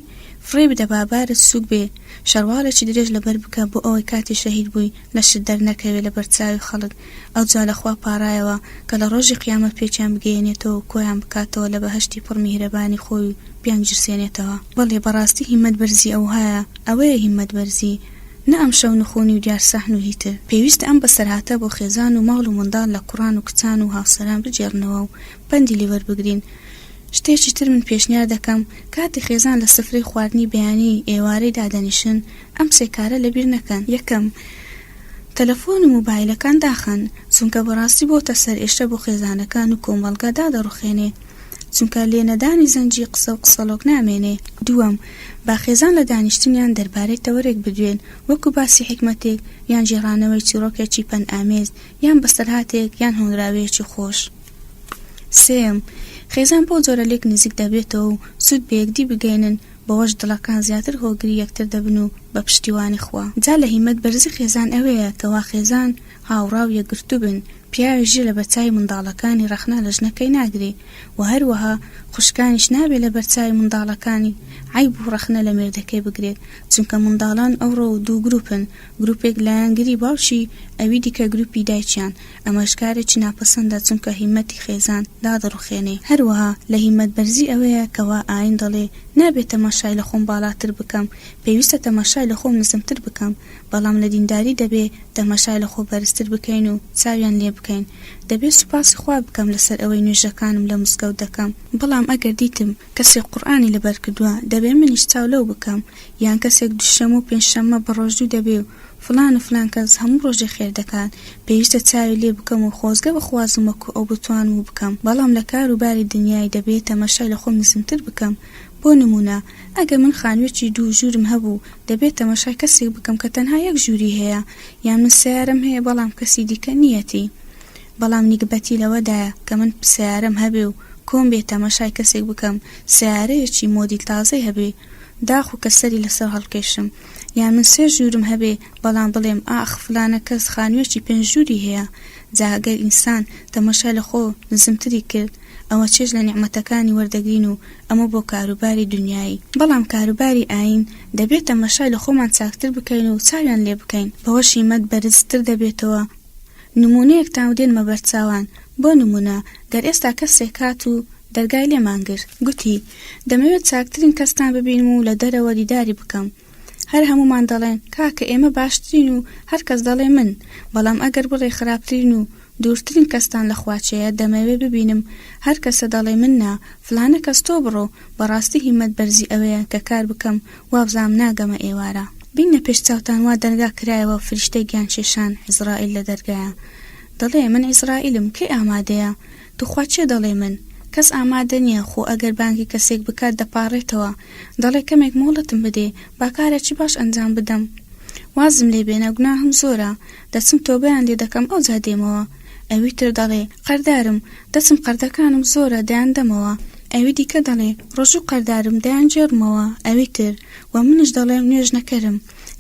فڕێ بدە با بارت سووک بێ شەڕواڵێکی درێژ لەبەر بکە بۆ ئەوەی کاتی شەهید بووی لەشت دەرنەکەوێ لەبەر چاوی خەڵک ئەوجا لە خوا پاڕایەوە کە لە ڕۆژی قیامەت پێکیان بگەیەنێتەوە و کۆیان بکاتەوە لە بەهەشتی پڕ میهرەبانی خۆی و بیانگیرسێنێتەوە بەڵێ بەڕاستی هیمەت بەرزی ئەوهایە ئەوەیە هیمەت بەرزی نە ئەمشەو نخونی و دیار سەحن و هی تر، پێویستە ئەم بەسەرهاتە بۆ خێزان و ماڵ و منداڵ لە کوڕان و کچان و هاوسەران بگێڕنەوە و پەندی لێ وەربگرین. شتێکی تر من پێشنیار دەکەم کاتێ خێزان لە سفرەی خواردنی بەیانی، ئێوارەی دادەنیشن، ئەم سێ کارە لە بیر نەکەن. یەکەم، تەلەفۆن و مۆبایلەکان داخەن، چونکە بەڕاستی بۆتە سەرئێشە بۆ خێزانەکان و کۆمەڵگە دادەڕوخێنێ. چونکە لێنەدانی زەنگی قسە و قسەڵۆک نامێنێ. دووەم، با خێزان لە دانیشتنیان دەربارەی تەوەرێک بدوێن، وەکو باسی حیکمەتێک یان گێڕانەوەی چیڕۆکێکی پەندئامێز یان بەسەرهاتێک یان هۆنراوەیەکی خۆش. سێیەم، خێزان بەو جۆرە لێک نزیک دەبێتەوە و سوود بە یەکدی بگەیەنن، بەوەش دڵەکان زیاتر هۆگری یەکتر دەبن و بە پشتیوانی خوا. جا لە هیمەت بەرزی خێزان ئەوەیە کەوا خێزان هاوڕا و یەکگرتوو بن، پیاوێک ژیر لە بەر چاوی منداڵەکانی ڕەخنە لە ژنەکەی ناگرێ و هەروەها خوشکانیش نابێ لە بەر چاوی منداڵەکانی عەیب و ڕەخنە لە مێردەکەی بگرێت چونکە منداڵان ئەوڕۆ دوو گروپن گروپێک لایەنگری باوکی ئەوی دیکە گروپی دایکیان ئەمەش کارێکی ناپەسەندە چونکە هیمەتی خێزان دادەڕوخێنێ هەروەها لە هیمەت بەرزی ئەوەیە کەوا ئاین دەڵێ نابێ تەماشای لە خۆم باڵاتر بکەم پێویستە تەماشای لە خۆم نزمتر بکەم بەڵام لە دینداری دەبێ تەمەشای لە خۆ بەرزتر بکەین و چاویان لێ بکەین. دەبێ سوپاسی خوا بکەم لەسەر ئەوەی نوێژەکانم لە مزگەوت دەکەم، بەڵام ئەگەر دیتم کەسێک قورئانی لەبەر کردووە دەبێ منیش چاو لەو بکەم، یان کەسێک دووشەمە و پێنجشەممە بەڕۆژوو دەبێ و فڵان و فلان کەس هەموو ڕۆژێ خێر دەکات پێویستە چاوی لێ بکەم و خۆزگە بخوازم وەکو ئەو بتوانم و بکەم، بەڵام لە کار و باری دنیای دەبێ تەمەشای لە خۆم نزمتر بکەم بۆ نموونە ئەگەر من خانووێکی دوو ژوورم هەبوو، دەبێت تەماشای کەسێک بکەم کە تەنها یەک ژووری هەیە، یان من سەیارەم هەیە بەڵام کەسی دیکە نییەتی. بەڵام نیگبەتی لەوەدایە کە من سەیارەم هەبێ و کۆم بێ تەماشای کەسێک بکەم سەیارەیەکی مۆدیل تازەی هەبێ داخۆ کە سەری لەسەر هەڵکێشم. یان من سێ ژوورم هەبێ بەڵام بڵێم ئاخ فڵانە کەس خانووێکی پێنج ژووری هەیە. جا گەر ئینسان تەماشای لە خۆ نزمتری کرد، ئەوە چێژ لە نیعمەتەکانی وەردەگرین و ئەمە بۆ کاروباری دونیایی بەڵام کاروباری ئایین دەبێ تەمەشای لە خۆمان چاکتر بکەین و چاویان لێ بکەین بەوەش هیمەت بەرز تر دەبێتەوە نمونەیەکتان دێنمە بەرچاوان بۆ نمونە گەر ئێستا کەسێک هات و دەرگای لێمان گرت گوتی دەمەوێت چاکترین کەستان ببینم و لە دەرەوە دیداری بکەم هەر هەموومان دەڵێن کاکە ئێمە باشترین و هەر کەس دەڵێ من بەڵام ئەگەر بڵێ خراپترین و دوورترین کەستان لە خواچەیە دەمەوێ ببینم هەر کەسە دەڵێ من نا فلانە کەس تۆ بڕۆ بەڕاستی هیمەت بەرزی ئەوەیە کە کار بکەم وابزانم ناگەمە ئێوارە بینە پێش چاوتان وا دەرگا کرایەوە فریشتەی گیان کێشان عیزرائیل لە دەرگایە دەڵێ من عیزرائیلم کەی ئامادەیە توخوا کێ دەڵێ من؟ کەس ئامادە نیە خۆ ئەگەر بانگی کەسێک بکات دەپاڕێتەوە دەڵێ کەمێک مۆڵەتم بدێ با کارێکی باش ئەنجام بدەم وازم لێ بێنە گوناهم زۆرە دەچم تۆبەیان لێ دەکەم ئەوجا دێمەوە ئەوی تر دەڵێ قەردارم دەچم قەردەکانم زۆرە دەیان دەمەوە ئەوی دیکە دەڵێ ڕۆژوو قەردارم دەیان گێڕمەوە ئەوی تر وە منیش دەڵێم نوێژ نەکەرم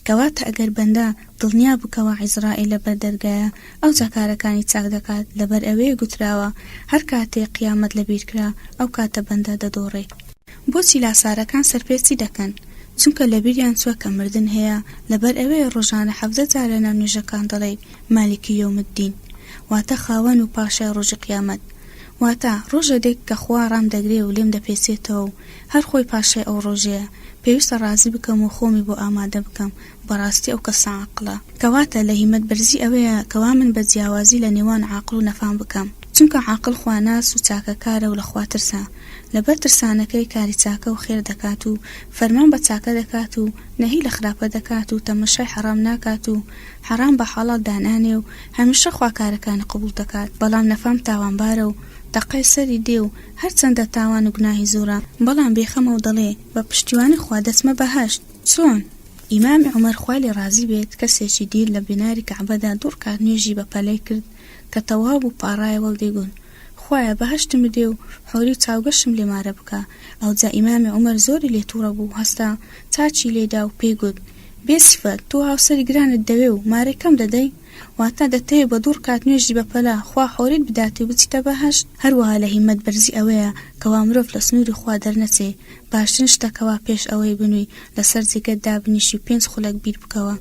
کەواتە ئەگەر بەندە دڵنیا بکەوە عیزرائیل لەبەر دەرگایە ئەوجا کارەکانی چاک دەکات لەبەر ئەوێ گوتراوە هەر کاتێ قیامەت لەبیر کرا ئەو کاتە بەندە دەدۆڕێ. بۆچی لاسارەکان سەرپێچی دەکەن؟ چونکە لەبیریان چوە کە مردن هەیە لەبەر ئەوێیە ڕۆژانە حەڤدە جار لەناو نوێژەکان دەڵێی مالک یوم الدین واتە خاوەن و پاشای ڕۆژی قیامەت واتە ڕۆژە دێک کە خوا ڕام دەگرێ و لێم دەپێچێتەوە و هەر خۆی پاشای ئەو ڕۆژەیە پێویستە ڕازی بکەم و خۆمی بۆ ئامادە بکەم بەڕاستی ئەو کەسە عاقڵە. کەواتە لە هیمەت بەرزی ئەوەیە کەوا من بە جیاوازی لە نێوان عاقڵ و نەفام بکەم. چونکە عاقڵ خواناس و چاکەکارە و لە خوا ترسە. لەبەر ترسانەکەی کاری چاکە و خێر دەکات و فەرمان بە چاکە دەکات و نەهی لە خراپە دەکات و تەمەشای حەڕام ناکات و حەڕام بە حەڵاڵ دانانێ و هەمیشە خوا کارەکانی قبوڵ دەکات بەڵام نەفام تاوانبارە و تەقەی سەری دێ و هەرچەندە تاوان و گوناهی زۆرە بەڵام بێخەمە و دەڵێ بە پشتیوانی خوا دەچمە بەهەشت. چۆن؟ ئیمامی عومەر خوا لێ ڕازی بێت کەسێکی دیر لە بیناری کەعبەدا دوو ڕکات نوێژی بە پەلەی کرد کە تەواو بوو پاڕایەوە و دەیگوت، خوایە بەهەشتم بدێ و حۆری و چاوگەشم لێ مارە بکە، ئەوجا ئیمامی عومەر زۆری لێ توڕە بوو هەستا چاکی لێ دا و پێی گوت، بێ سیفەت تۆ هاوسەری گرانت دەوێ و مارەی کەم دەدەی؟ واتە، دەتەوێ بە دوو ڕکات نوێژی بەپەلە خوا حۆریت بداتێ و بچیتە بەهەشت؟ هەروەها لە هیمەت بەرزی ئەوەیە کەوا مرۆڤ لە سنووری خوا دەرنەچێ، باشترین شتە کەوا پێش ئەوەی بنووی لەسەر جێگەت دابنیشی و پێنج خولەک بیر بکەوە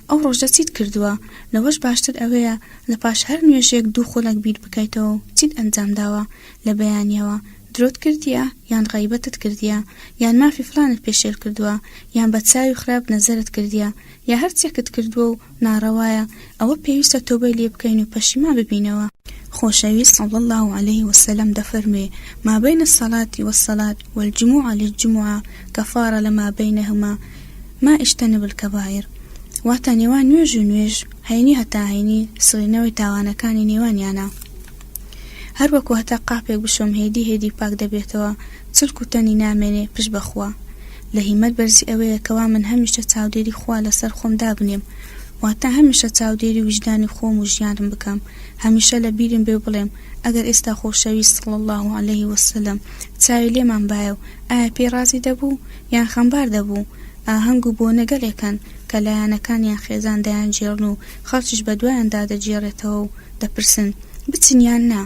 ئەو ڕۆژە چیت کردووە، لەوەش باشتر ئەوەیە لە پاش هەر نوێژێک دوو خولەک بیر بکەیتەوە و چیت ئەنجام داوە لە بەیانیەوە، درۆت کردیە یان غەیبەتت کردیە یان مافی فلانت پێشێل کردووە یان بە چاوی خراپ نەزەرت کردیە، یا هەر چێکت کردووە و ناڕەوایە ئەوە پێویستە تۆبەی لێ بکەین و پەشیمان ببینەوە. خۆشەویست صلی اللە علیە وسلم دەفەرموێ، ما بین الصلاة والصلاة والجمعە للجمعە کفارە لما بینهما ما اجتنب الکبایر، واتە نێوان نوێژ و نوێژ، هەینی هەتا هەینی، سڕینەوەی تاوانەکانی نێوانیانە. هەر وەکو هەتا قاپێک بشۆم هێدی هێدی پاک دەبێتەوە چڵک و تەنی نامێنێ پشت بە خوا لە هیمەت بەرزی ئەوەیە کەوا من هەمیشە چاودێری خوا لەسەر خۆم دابنێم واتا هەمیشە چاودێری ویژدانی خۆم و ژیانم بکەم هەمیشە لە بیرم بێ و بڵێم ئەگەر ئێستا خۆشەویست صلی اللە علیه وسلم چاوی لێمان بایە و ئایا پێی ڕازی دەبوو یان خەمبار دەبوو ئاهەنگ و بۆنە گەلێک هەن کە لایەنەکان یان خێزان دەیانگێڕن و خەڵکیش بەدوایاندا دەگێڕێتەوە و دەپرسن بچن یان نا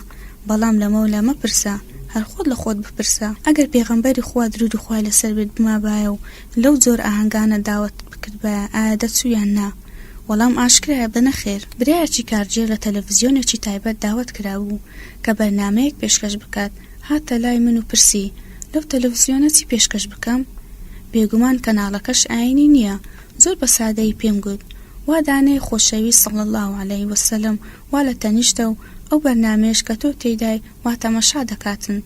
بەڵام لەمە و لە مەپرسە هەر خۆت لە خۆت بپرسە ئەگەر پێغەمبەری خوا درودی خوای لەسەر بێت بمابایە و لەو جۆرە ئاهەنگانە داوەتت بکردبایە ئایا دەچوو یان نا وەڵام ئاشکرایە بە نەخێر. برایەکی کارگێر لە تەلەفزیۆنێکی تایبەت داوەت کرابوو کە بەرنامەیەک پێشکەش بکات هاتە لای من و پرسی لەو تەلەفزیۆنە چی پێشکەش بکەم بێگومان کەناڵەکەش ئاینی نیە زۆر بە سادەیی پێم گوت وا دانێ خۆشەویست صلی اللە علیە وسلم وا لە تەنیشتە و ئەو بەرنامەیەش کە تۆ تێیدای وا تەماشا دەکاتن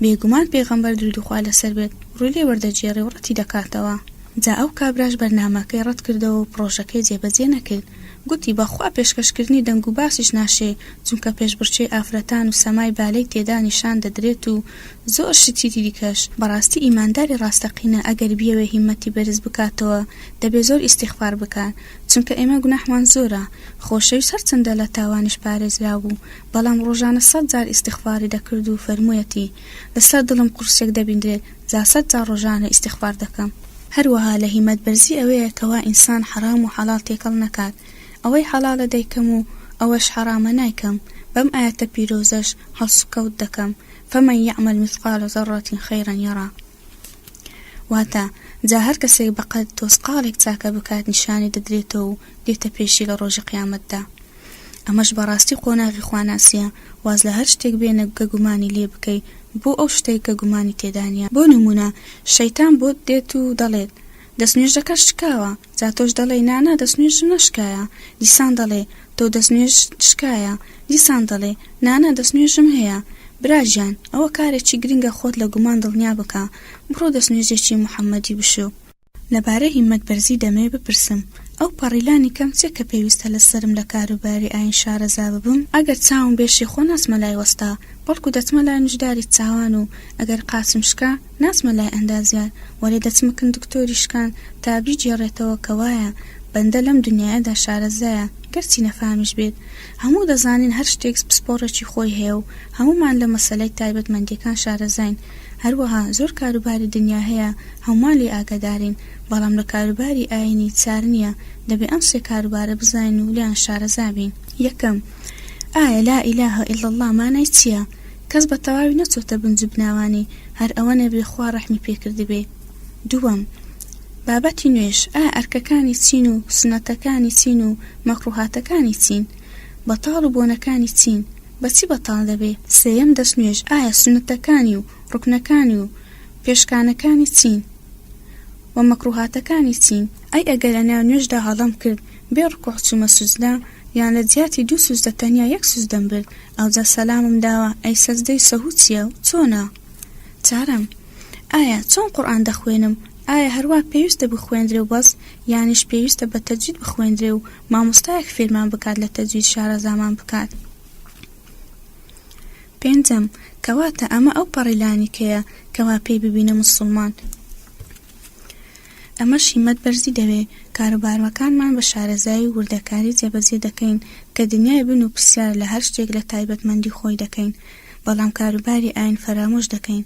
بێگومان پێغەمبەر دروودی خوا لەسەر بێت ڕووی لێ وەردەگێڕێ و ڕەتی دەکاتەوە جا ئەو کابراش بەرنامەکەی ڕەت کردەوە و پڕۆژەکەی جێبەجێ نەکرد گوتی بە خوا پێشکەش کردنی دەنگ و باسیش ناشێ چونکە پێشبڕکێی ئافرەتان و سەمای بالەی تێدا نیشان دەدرێت و زۆر شتی دیکەش، بەڕاستی ئیمانداری ڕاستەقینە ئەگەر بیەوێ هیمەتی بەرز بکاتەوە دەبێ زۆر ئیستیغفار بکات چونکە ئێمە گوناحمان زۆرە، خۆشەویست هەرچەندە لە تاوانیش پارێزراو بوو بەڵام ڕۆژانە سەد جار ئیستیغفاری دەکرد و فەرموویەتی، لەسەر دڵم قورسێک دەبیندرێت جا سەد جار ڕۆژانە ئیستیغفار دەکەم. هەروەها لە هیمەت بەرزی ئەوەیە کەوا ئینسان حەڕام و حەڵاڵ تێکەڵ نەکات، ئەوەی حەڵاڵە دەیکەم و ئەوەش حەڕامە نایکەم، بەم ئایەتە پیرۆزەش هەڵسوکەوت دەکەم، فمن یعمل مثقال ذرە خیرا یرە واتە، جا هەر کەسێک بە قەد تۆزقاڵێک چاکە بکات نیشانی دەدرێتەوە و دێتە پێشی لە ڕۆژی قیامەتدا. ئەمەش بەڕاستی قۆناغی خواناسیە واز لە هەر شتێک بێنە گە گومانی لێ بکەی بۆ ئەو شتەی کە گومانی تێدا نیە. بۆ نمونە شەیتان بۆت دێت و دەڵێت، دەستنوێژەکەت شکاوە! جا تۆش دەڵێی نا نا دەستنوێژم نەشکایە، دیسان دەڵێ، تۆ دەستنوێژت شکایە، دیسان دەڵێ، نا نا دەستنوێژم هەیە. برا گیان، ئەوە کارێکی گرنگە خۆت لە گومان دڵنیا بکە، بڕۆ دەستنوێژێکی محەممەدی بشۆ. لەبارەی هیمەت بەرزی دەمەوێ بپرسم، ئەو پەڕی لانی کەم چییە کە پێویستە لە سەرم لە کاروباری ئایین شارەزا ببم؟ ئەگەر چاوم بێشێ خۆ ناچمە لای وەستا، بەڵکوو دەچمە لای نوژداری چاوان و ئەگەر قاچم شکا، ناچمە لای ئەندازیار وەلێ دەچمکن دکتۆری شکان تا بیگێڕێتەوە کە وایە بەندە لەم دنیایەدا شارەزایە گەرچی نەفامیش بێت هەموو دەزانین هەر شتێکس پسپۆڕێکی خۆی هەیە و هەموومان لە مەسەلەی تایبەتمەندیەکان شارەزاین هەروەها زۆر کاروباری دنیا هەیە هەموومان لێی ئاگادارین بەڵام لە کاروباری ئاینی چارنیە دەبێ ئەم سێ کاروبارە بزانین و لێیان شارەزابین یەکەم، ئایا لا الە الا اللە مانای چیە؟ کەس بە تەواوی نەچۆتە بنج و بناوانی، هەر ئەوەنە بێ خوا ڕەحمی پێ کردبێ. دووەم، بابەتی نوێژ، ئایا ئەرکەکانی چین و سوننەتەکانی چین و مەکرووهاتەکانی چین؟ بەتاڵ و بۆنەکانی چین؟ بە چی بەتاڵ دەبێ؟ سێیەم، دەستنوێژ، ئایا سوننەتەکانی و ڕوکنەکانی و پێشکانەکانی چین؟ و مەکرووهاتەکانی چین؟ ئەی ئەگەر لە ناو نوێژدا هەڵەم کرد، بێ ڕکوع چومە سوجدە یان لە جیاتی دوو سوجدە تەنیا یەک سوجدەم برد ئەوجا سەلامم داوە ئەی سەجدەی سەهو چیە و چۆنە؟ چارەم. ئایا چۆن قورئان دەخوێنم ئایا هەروا پێویستە بخوێندرێ و بەس یانیش پێویستە بە تەجوید بخوێندرێ و مامۆستایەک فێرمان بکات لە تەجوید شارەزامان بکات؟ پێنجەم، کەواتە ئەمە ئەو پەڕی لانیکەیە کەوا پێی ببینە موسوڵمان. ئەمەش هیمەت بەرزی دەوێ، کاروباروەکانمان بە شارەزایی و وردەکاری جێبەجێ دەکەین کە دنیای بن و پرسیار لە هەر شتێک لە تایبەتمەندی خۆی دەکەین بەڵام کاروباری ئاین فەرامۆش دەکەین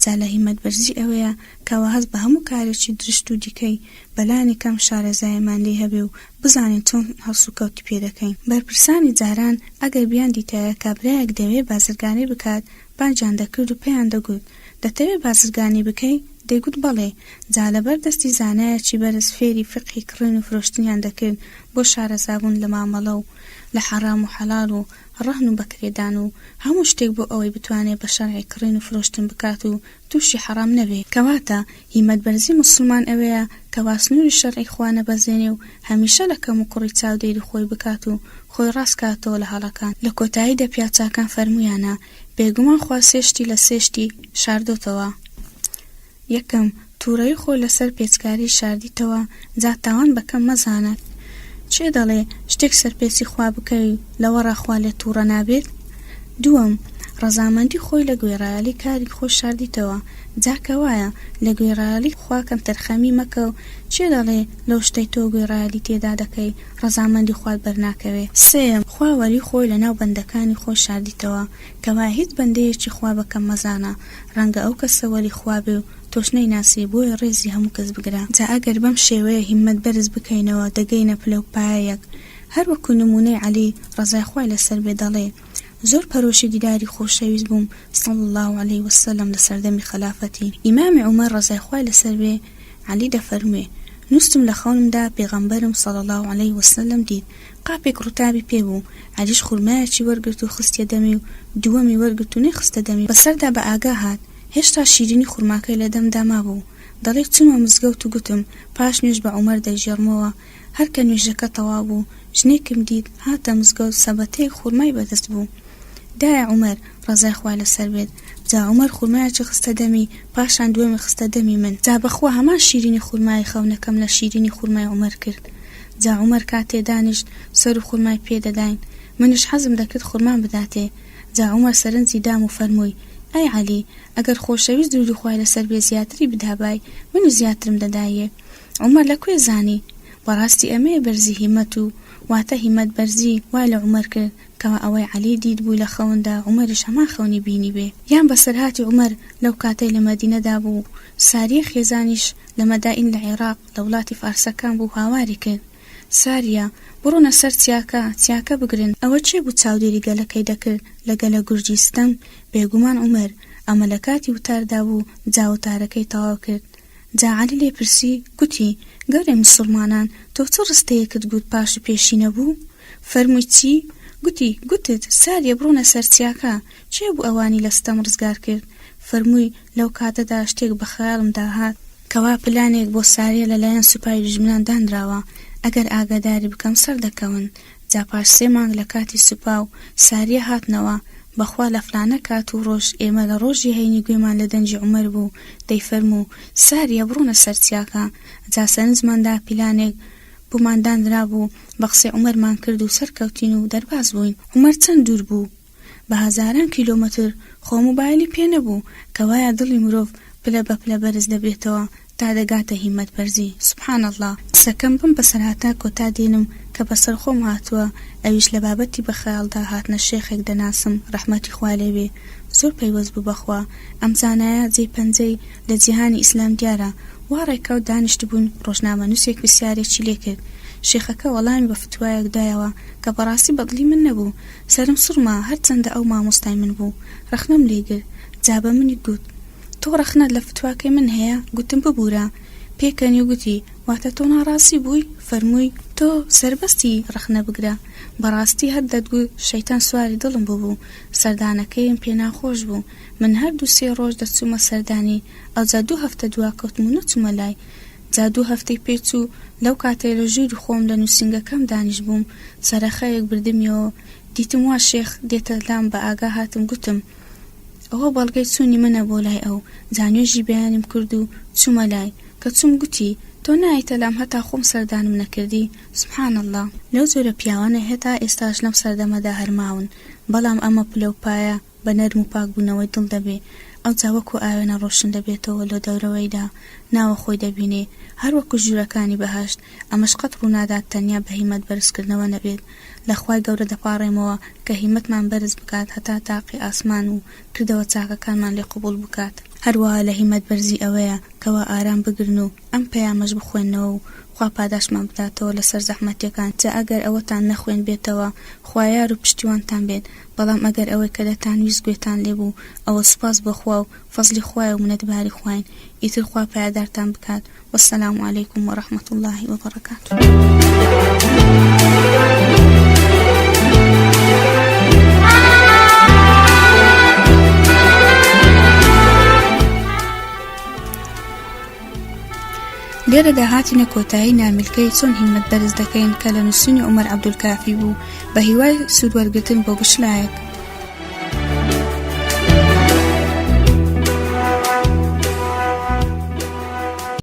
جا لە هیمەت بەرزی ئەوەیە کەوا هەست بە هەموو کارێکی درشت و دیکەی بە لانی کەم شارەزاییمان لێی هەبێ و بزانین چۆن هەڵسوکەوتی پێ دەکەین. بەرپرسانی جاران ئەگەر بیاندیتایە کابرایەک دەوێ بازرگانی بکات باجیان دەکرد و پێیان دەگوت، دەتەوێ بازرگانی بکەی؟ دەیگوت بەڵێ، جا لەبەر دەستی زانایەکی بەرز فێری فیقهی کڕین و فرۆشتنیان دەکرد بۆ شارەزابوون لە مامەڵە و لە حەڕام و حەڵاڵ و ڕەهن و بەکرێدان و هەموو شتێک بۆ ئەوەی بتوانێ بە شەرعی کڕین و فرۆشتن بکات و تووشی حەڕام نەبێ. کەواتە هیمەت بەرزی موسڵمان ئەوەیە کە واسنوری شەرعی خوا نەبەزێنێ و هەمیشە لە کەم و کوڕی چاودێری خۆی بکات و خۆی ڕاست کاتەوە لە هەڵەکان، لە کۆتاییدا پیاوچاکان فەرموویانە، بێگومان خوا سێ شتی لە سێ شتی شاردۆتەوە، یەکەم، تووڕەیی خۆی لەسەر پێچکاریی شاردیتەوە، جا تاوان بە کەم مەزانە. کێ دەڵێ شتێک سەرپێچی خوا بکەی لەوەڕا خوا لێت تووڕە نابێت؟ دووەم، ڕەزامەندی خۆی لە گوێڕایەڵی کاری خۆی شاردیتەوە، جا کە وایە لە گوێڕایەڵی خوا کەمتەرخەمی مەکە و کێ دەڵێ لەو شتەی تۆ گوێڕایەڵی تێدا دەکەی ڕەزامەندی خوات بەرناکەوێ؟ سێیەم، خوا وەری خۆی لە ناو بەندەکانی خۆی شاردیتەوە، کە وایە هیچ بەندەیەکی خوا بە کەم مەزانە، ڕەنگە ئەو کەسە وەری خوا بێ و تۆش نەیناسی بۆیە ڕێزی هەموو کەس بگرە جا ئەگەر بەم شێوەیە هیممەت بەرز بکەینەوە دەگەینە پلە و پایەیەک هەر وەکو نموونەی عەلی ڕەزای خوای لەسەر بێ دەڵێ زۆر پەرۆشی دیداری خۆشەویست بووم صلی اللە علیە وسلم لە سەردەمی خەلافەتی ئیمام عومەر ڕەزای خوای لەسەر بێ عەلی دەفەرموێ نوستم لە خەونمدا پێغەمبەرم صلی اللە علیە وسلم دید قاپێک ڕووتابی پێ بوو عەلیش خورمایەکی وەرگرت و خستیە دەمی و دووەمی وەرگرت و نەیخستە دەمی و بەسەردا بە ئاگا هات هێشتا شیرینی خورماکەی لە دەمدا مابوو، دەڵێت چوومە مزگەوت و گوتم پاش نوێژ بە عومەر دەیگێڕمەوە، هەر کە نوێژەکە تەواو بوو ژنێکم دیت هاتە مزگەوت سەبەتەیەک خورمای بەدەست بوو دایە عومەر ڕەزای خوا لەسەر بێت، جا عومەر خورمایەکی خستە دەمی پاشان دووەمی خستە دەمی من، جا بەخوا هەمان شیرینی خورمایی خەونەکەم لە شیرینی خورمای عومەر کرد، جا عومەر کاتێ دانیشت سەرو خورمای پێ دەداین، منیش حەزم دەکرد خورمام بداتێ، جا عومەر سەرنجی دام و فەرمووی، ئەی عەلی! ئەگەر خۆشەویست درودی خوای لەسەر بێ زیاتری بدابای، منیش زیاترم دەدایێ. عومەر لە کوێ زانی؟ بەڕاستی ئەمەیە بەرزی هیمەت و واتە هیمەت بەرزی وای لە عومەر کرد کەوا ئەوەی عەلی دیت بووی لە خەوندا عومەریش هەمان خەونی بینیبێ. یان بەسەرهاتی عومەر لەو کاتەی لە مەدینەدا بوو و ساریە خێزانیش لە مەدائین لە عێڕاق لە وڵاتی فارسەکان بوو هاواری کرد، ساریا، بڕۆنە سەر چیاکە، چیاکە بگرن، ئەوە کێ بوو چاودێری گەلەکەی دەکرد لە گەلە گورجی ستەم، بێگومان عومەر، ئەمە لە کاتی وتاردا بوو، جا وتارەکەی تەواو کرد. جا عەلی لێ پرسی، گوتی، گەورەی موسڵمانان، تۆ چ ڕستەیەکت گوت پاش و پێشی نەبوو؟ فەرمووی چی؟ گوتی، گوتت، ساریە بڕۆنە سەر چیاکە، کێ بوو ئەوانی لە ستەم ڕزگار کرد؟ فەرمووی، لەو کاتەدا شتێک بە خەیاڵمدا هات، کوا پلانێک بۆ ساریە لەلایەن سوپای دوژمنان دانراوە؟ ئەگەر ئاگاداری بکەم سەردەکەون جا پاش سێ مانگ لە کاتی سوپا و ساریە هاتنەوە بەخوا لە فلانە کات و ڕۆژ ئێمە لە ڕۆژی هەینی گوێمان لە دەنگی عومەر بوو دەیفەرموو ساریە بڕۆنە سەر چیاکە جا سەرنجمان دا پیلانێک بۆمان دانرابوو بە قسەی عومەرمان کرد و سەرکەوتین و دەرباز بووین عومەر چەند دوور بوو بە هەزاران کیلۆمەتر خۆ موبایلی پێ نەبوو کەوایە دڵی مرۆڤ پلە بە پلە بەرز دەبێتەوە تا دەگاتە هیمەت بەرزی سبحان اللە. قسەکەم بم بەسەر هاتا کۆتا دێنم کە بەسەر خۆم هاتوە ئەویش لە بابەتی بە خەیاڵدا هاتنە شێخێک دەناسم ڕەحمەتی خوا لێ بێ زۆر پەیوەست بوو بەخوا ئەم زانایە جێی پەنجەی لە جیهانی ئیسلام دیارە وا ڕێکەوت دانیشتبوون ڕۆژنامە نوسێک پرسیارێکی لێ کرد شێخەکە وەڵامی بە فتوایەک دایەوە کە بەڕاستی بەدڵی من نەبوو سەرم سوڕما هەرچەندە ئەو مامۆستای من بوو ڕەخنەم لێ گرت جا بە منی گوت تۆ ڕەخنەت لە فتواکەی من هەیە گوتم ببورە پێکەنی گوتی واتە تۆ ناڕازی بووی فەرمووی تۆ سەربەستی ڕەخنە بگرە بەڕاستی هەر دەتگوت شەیتان سواری دڵم ببوو سەردانەکەیم پێ ناخۆش بوو من هەر دوو سێ ڕۆژ دەچوومە سەردانی ئەوجا دوو هەفتە دواکەوتم و نەچوومە لای جا دوو هەفتەی پێ چوو، لەو کاتەی لە ژووری خۆم لە نووسینگەکەم دانیشبووم، چەرەخەیەک بردمیەوە، دیتم وا شێخ دێتە لام، بە ئاگا هاتم گوتم، ئەوە بەڵگەی چوونی منە بۆ لای ئەو، جا نوێژی بەیانیم کرد و چوومە لای، کە چووم گوتی، تۆ نایەیتە لام هەتا خۆم سەردانم نەکردی؟ سبحان اللە! لەو جۆرە پیاوانە هەتا ئێستاش لەم سەردەمەدا هەر ماون، بەڵام ئەمە پلە و پایە، بە نەرم و پاک بوونەوەی دڵ دەبێ، ئەوجا وەکوو ئاوێنە ڕۆشن دەبێتەوە لۆ دەورەوەیدا، ناوە خۆی دەبینێ، هەر وەکوو ژوورەکانی بەهەشت، ئەمەش قەت ڕوو نادات تەنیا بە هیمەت بەرز کردنەوە نەبێت، لە خوای گەورە دەپاڕێمەوە کە هیمەتمان بەرز بکات هەتا تاقی ئاسمان و کردەوە چاکەکانمان لێ قبووڵ بکات. هەروەها لە هیمەت بەرزی ئەوەیە کەوا ئارام بگرن و ئەم پەیامەش بخوێننەوە و خوا پاداشتمان بداتەوە لە سەر زەحمەتیەکان، جا ئەگەر ئەوەتان نەخوێندبێتەوە خوا یار و پشتیوانتان بێت، بەڵام ئەگەر ئەوەی کە دەتانویست گوێتان لێ بوو ئەوە سوپاس بۆ خوا و فەزڵی خوایە و منەتباری خواین ئیتر خوا پایەدارتان بکات والسلام علیکم و رحمەت اللە و بەڕەکاتوو. لێرەدا هاتینە کۆتایی نامیلکەی چۆن هیمەت بەرز دەکەین کە لە نووسینی عومەر عەبدولکافی بوو بە هیوای سوود وەرگتن بۆ بشنایەک.